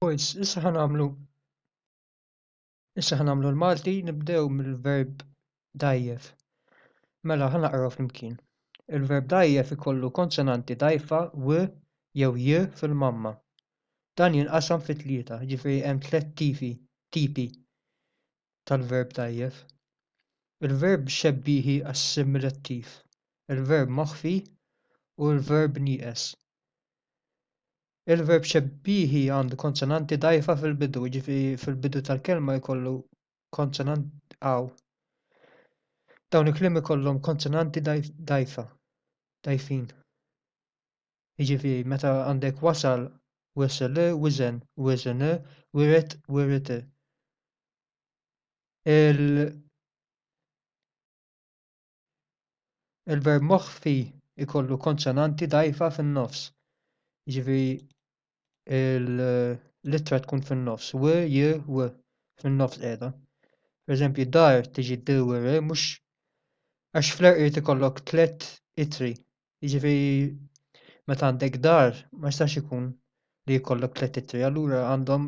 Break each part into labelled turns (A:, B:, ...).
A: Boys, issa ħa nagħmlu issa ħa nagħmlu l-Malti nibdew mill-verb dajjef. Mela ħa naqraw flimkien. Il-verb dajjef ikollu konsonanti dajfa w jew j fil-mamma. Dan jinqasam fi tlieta, ġifieri hemm tliet tipi tipi tal-verb dajjef. Il-verb xebbiħi assimilattiv, il-verb moħħfi u l-verb nieqes. Il-verb xebbihi għandu konsonanti dgħajfa fil-bidu, jiġifieri fil-bidu tal-kelma jkollu konsonanti għaw. Dawn il-kliem ikollhom konsonanti dgħajfa, dgħajfin. Jiġifieri meta għandek wasal, wisel, wizen, wizen, wiret, wirit. Il Il-verb moħħfi jkollu konsonanti dgħajfa fin-nofs. Jiġifieri l-ittra tkun fin-nofs, w, j, w, fin-nofs qiegħda. Pereżempju, dar tiġi d u r mhux għax fl-erq irid ikollok tliet itri. Jiġifieri meta għandek dar ma jistax ikun li jkollok tliet itri, allura għandhom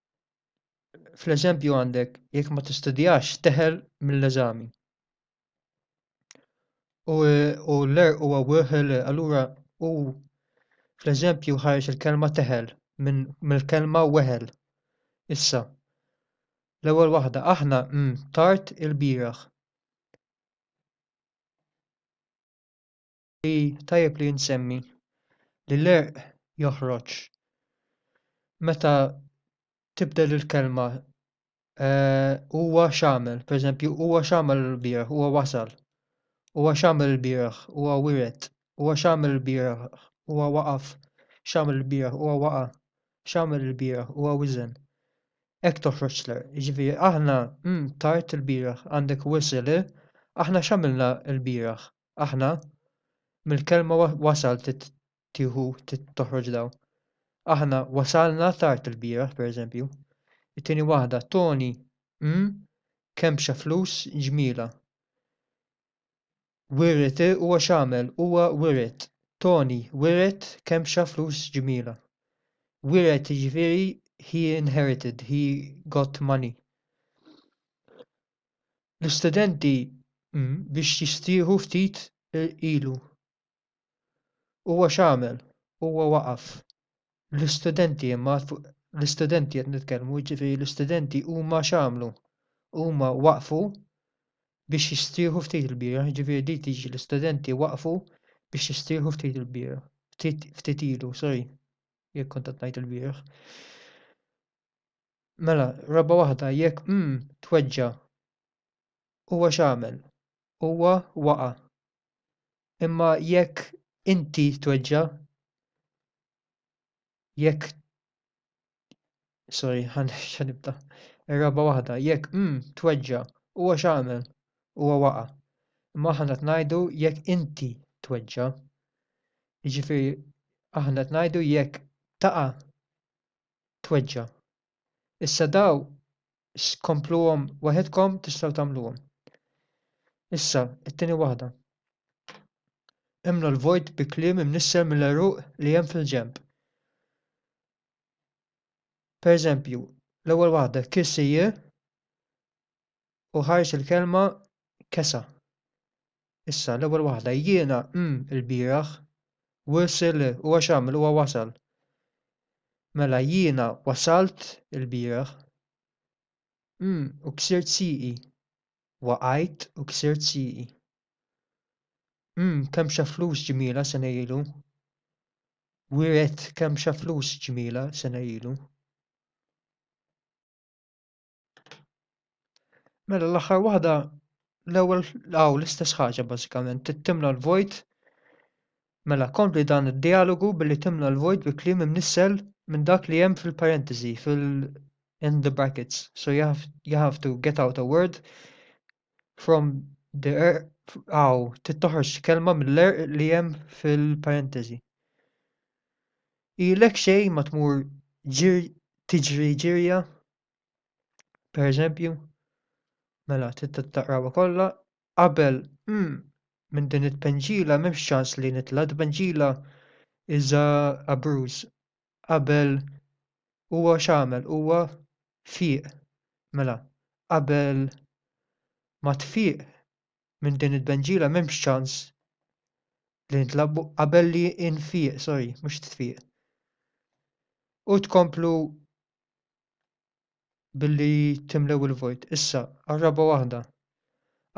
A: fl-eżempju għandek jekk ma tistudjax teħel mill-eżami. U, u l-er u għawħel, allura u fl-eżempju ħarġ il-kelma teħel mill-kelma weħel. Issa, l-ewwel waħda aħna mm, tard il-bieraħ. li tajjeb li nsemmi li l-għerq joħroġ meta tibdel il-kelma eh, huwa x'għamel, pereżempju huwa x'għamel il-bieraħ, huwa wasal, huwa x'għamel il-bieraħ, huwa wiret, huwa x'għamel il-bieraħ, huwa waqaf, x'għamel il-bieraħ, huwa waqa', x'għamel il-bieraħ, huwa wiżen. Hekk toħroġ l-għerq, jiġifieri aħna mm, tard il-bieraħ għandek wisel, eh? aħna x'għamilna l-bieraħ, aħna mill-kelma wasal trid tieħu trid toħroġ daw. Aħna wasalna tard il-bieraħ pereżempju. It-tieni waħda Tony mm kempxa flus ġmiela. Wiriet huwa x'għamel huwa wiriet. Tony wiriet kempxa flus ġmiela. Wiriet jiġifieri he inherited, he got money. l-istudenti biex jistieħu ftit irqilu. Huwa x'għamel? Huwa waqaf. L-istudenti imma, l-istudenti qed nitkellmu, jiġifieri l-istudenti huma x'għamlu? Huma waqfu biex jistieħu ftit il-bieraħ, jiġifieri din tiġi l-istudenti waqfu biex jistieħu ftit il-bieraħ. Ftit ilu, sorry, jekk kont qed ngħid il-bieraħ. Mela, raba' waħda, jekk mm tweġġa', huwa x'għamel? Huwa waqa'. Imma jekk inti tweġġa', jekk sorry, ħa nibda. Ir-raba' waħda, jekk mm tweġġa', huwa x'għamel? Huwa waqa'. Imma aħna qed ngħidu jekk inti tweġġa'. Jiġifieri aħna qed ngħidu jekk taqa' tweġġa'. Issa daw s kompluhom waħedkom tistgħu tagħmluhom. Issa, it-tieni waħda. Imlu l-vojt bi kliem imnissel mill-għeruq li hemm fil-ġenb. Per eżempju, l-ewwel waħda kiss hija u ħarġ il-kelma kesa. Issa, l-ewwel waħda, jiena, mm, il-bieraħ, wisil, u għax għamil, huwa wasal. Mela, jiena wasalt il-bieraħ, mm, u ksirt siqi, waqajt u ksirt siqi. Mm, kemm xa flus ġmila sena ilu. Wiret kemm xa flus ġmila sena ilu. Mela l-aħħar waħda l-ewwel hawn l-istess ħaġa bażikament, trid timla l-vojt. Mela kompli dan id-dialogu billi timla l-vojt bi kliem imnissel minn dak li hemm fil-parentesi, fil in the brackets. So you have, you have to get out a word from the er aw trid toħroġ kelma mill-er li hemm fil-parentesi. Ilek xejn ma tmur ġir tiġri ġirja Per eżempju, mela taqrawha kollha qabel hmm, minn din it-tpenġila m'hemmx ċans li nitla' tpenġila iża abruż qabel huwa x'għamel huwa fieq mela qabel ma tfieq minn din it-tpenġila m'hemmx ċans li nitla' qabel li nfieq sorry mhux tfieq u tkomplu billi timlew il-vojt. Issa, għar-raba' waħda,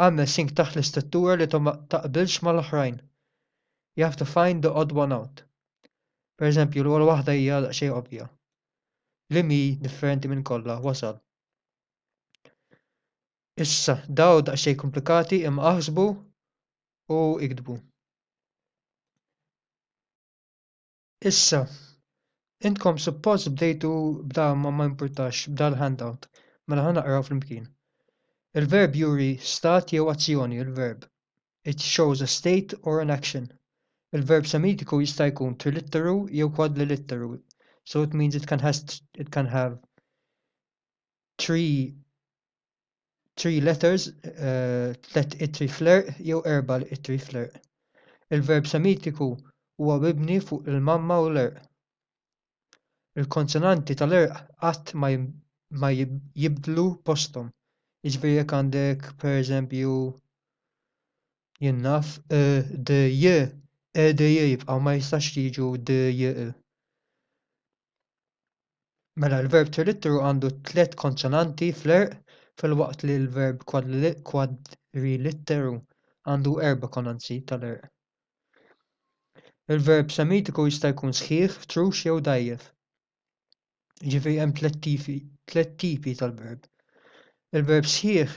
A: agħmel sink taħt l-istruttura li ma taqbilx mal-oħrajn. You have to find the odd one out. Pereżempju, l-ewwel waħda hija daqsxejn ovvja. Li mi differenti minn kollha wasal. Issa, daw daqsxejn komplikati imma aħsbu u iktbu. Issa, intkom suppost bdejtu b'da ma ma jimpurtax b'da l-handout, mela ħa naqraw flimkien. Il-verb juri stat jew azzjoni, il-verb It shows a state or an action. Il-verb semitiku jista' jkun trilitteru jew kwadlilitteru, so it means it can has it can have three three letters, tliet ittri fl-għerq jew erba' ittri fl-għerq. Il-verb Semitiku huwa mibni fuq il-mamma u l-għerq. Il-konsonanti tal-għerq qatt ma jibdlu posthom. Jiġifieri jekk għandek pereżempju jien naf d j e d j jibqgħu ma jistax jiġu d j e. Mela l-verb ċeritteru għandu tliet konsonanti fl-għerq filwaqt li l-verb kwadrilitteru għandu erba' konanzi tal-għerq. Il-verb semitiku jista' jkun sħiħ, trux jew dgħajjef. Jiġifieri hemm tliet tipi tliet tipi tal-verb. Il-verb sħiħ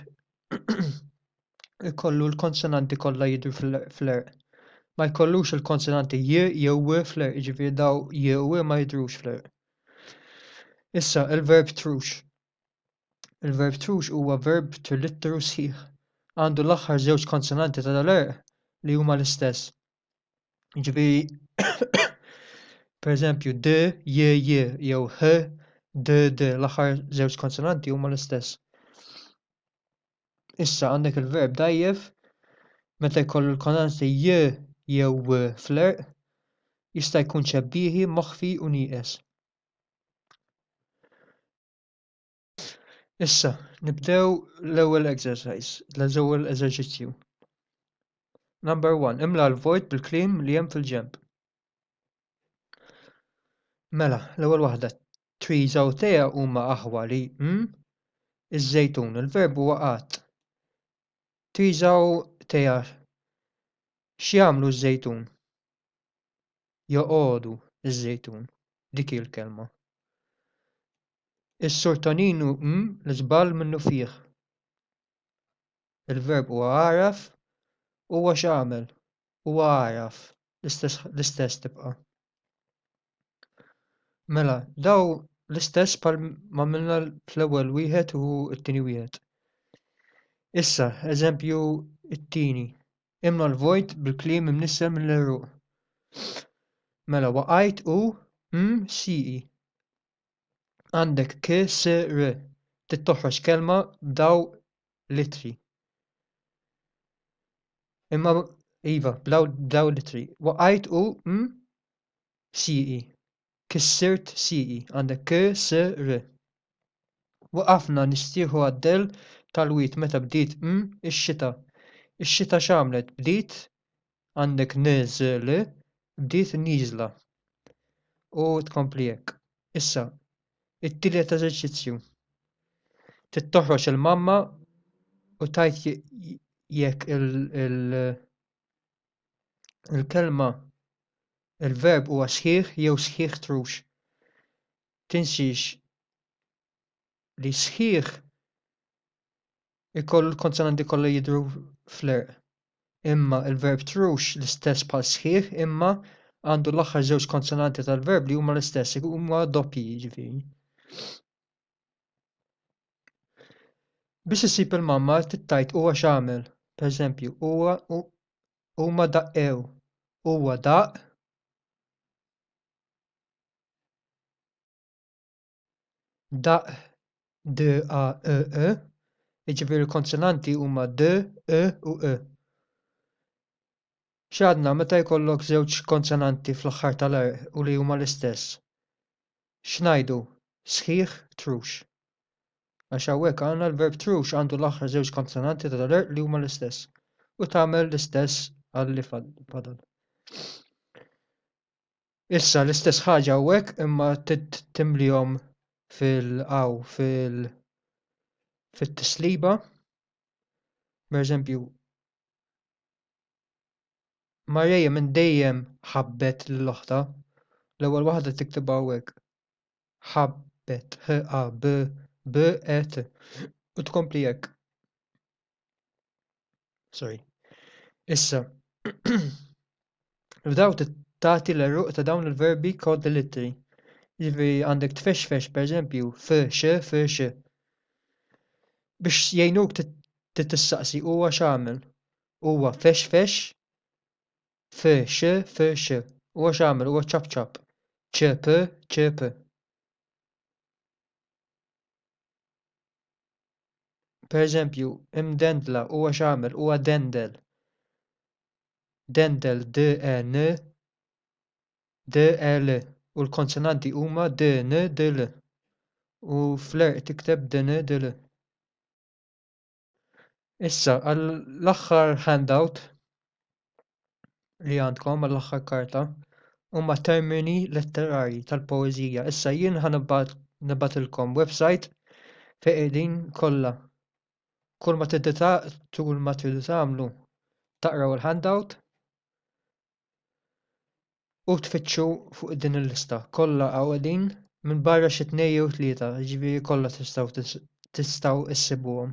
A: jkollu l-konsonanti kollha jidhru fl-għerq ma jkollux il-konsonanti j jew w fl-għerq jiġifieri dawn j u w ma jidhrux fl-għerq issa il-verb trux il-verb trux huwa verb trilitteru sħiħ għandu l-aħħar żewġ konsonanti tal-għerq li huma l-istess Jiġifieri, pereżempju, d, j, j jew h, d, d l-aħħar żewġ konsonanti huma l-istess. Issa għandek il-verb dajjef meta jkollu l-konsonanti j jew w fl-erq jista' jkun ċebbieħi, moħħfi u nieqes. Issa, nibdew l-ewwel exercise, l-ewwel eżerċizzju. Number 1, imla l-vojt bil-klim li hemm fil-ġemp. Mela, l-ewwel waħda, trees u tea huma aħwa li mm? iż-żejtun, il-verb huwa qatt. Trees u tea x'jagħmlu ż-żejtun? Joqogħdu ż-żejtun, dik il-kelma. Is-Sur Toninu Hm l-żball minnufih. Il-verb huwa għaraf, huwa x'għamel, huwa għaraf, l-istess l-istess tibqa'. Mela, daw l-istess bħal m'għamilna fl-ewwel wieħed u t-tieni wieħed. Issa, eżempju t-tieni. Imla l-vojt bil-kliem imnissel mill-għeruq. Mela, waqajt u hm siqi. Għandek k, s, r. Trid toħroġ kelma b'daw litri. Imma iva, b'daw b'daw litri. Waqajt u m siqi. Kissirt siqi. Għandek k, s, r. Waqafna nistieħu għaddel tal-wied meta bdiet m ix-xita. Ix-xita x'għamlet? Bdiet għandek NZL bdiet nieżla. U tkompli hekk. Issa, it-tielet eżerċizzju. Trid toħroġ il-mamma u tajt jekk il-kelma il-verb huwa sħiħ jew sħiħ trux. Tinsiex li sħiħ ikollu l-konsonanti kollha jidhru fl-għerq. Imma il-verb trux l-istess bħal sħiħ imma għandu l-aħħar żewġ konsonanti tal-verb li huma l-istess, huma doppji jiġifieri. Biex issib il-mamma tittajt huwa x'għamel, pereżempju, huwa huma daqqew, huwa daqq, daq, d, a, e, e, jiġifieri l-konsonanti huma d, e u e. X'għadna meta jkollok żewġ konsonanti fl-aħħar tal-għerq u li huma l-istess? X'ngħidu? Sħiħ, trux. Għax hawnhekk għandna l-verb trux għandu l-aħħar żewġ konsonanti tal-għerq li huma l-istess u tagħmel l-istess għal li fadal. Issa l-istess ħaġa hawnhekk imma timlihom fil-qaw fil fit-tisliba. Per eżempju, Marija minn dejjem ħabbet lil oħta L-ewwel waħda tiktibha hawnhekk. Ħabbet, ħ a b b e t. U tkompli hekk. Sorry. Issa, f'daw tagħti l-eruq ta' dawn il-verbi kod l-ittri. Jiġifieri għandek tfexfex pereżempju f x f x. Biex jgħinuk tistaqsi huwa x'għamel. Huwa fexfex f x f x. Huwa x'għamel huwa ċapċap. ċep ċep. pereżempju imdendla huwa xamel huwa dendel dendel d e n d e l u l-konsonanti huma d n d l u fl-għerq tikteb dn dl Issa, għall-aħħar handout li għandkom, għall-aħħar karta, huma termini letterarji tal-poeżija. Issa jien ħa nibatilkom website fejn qegħdin kollha. Kull ma tul ma tridu tagħmlu taqraw il-handout u tfittxu fuq din il-lista kollha hawnqegħdin minbarra xi tnejn jew tlieta jiġifieri kollha tistgħu tistgħu issibuhom.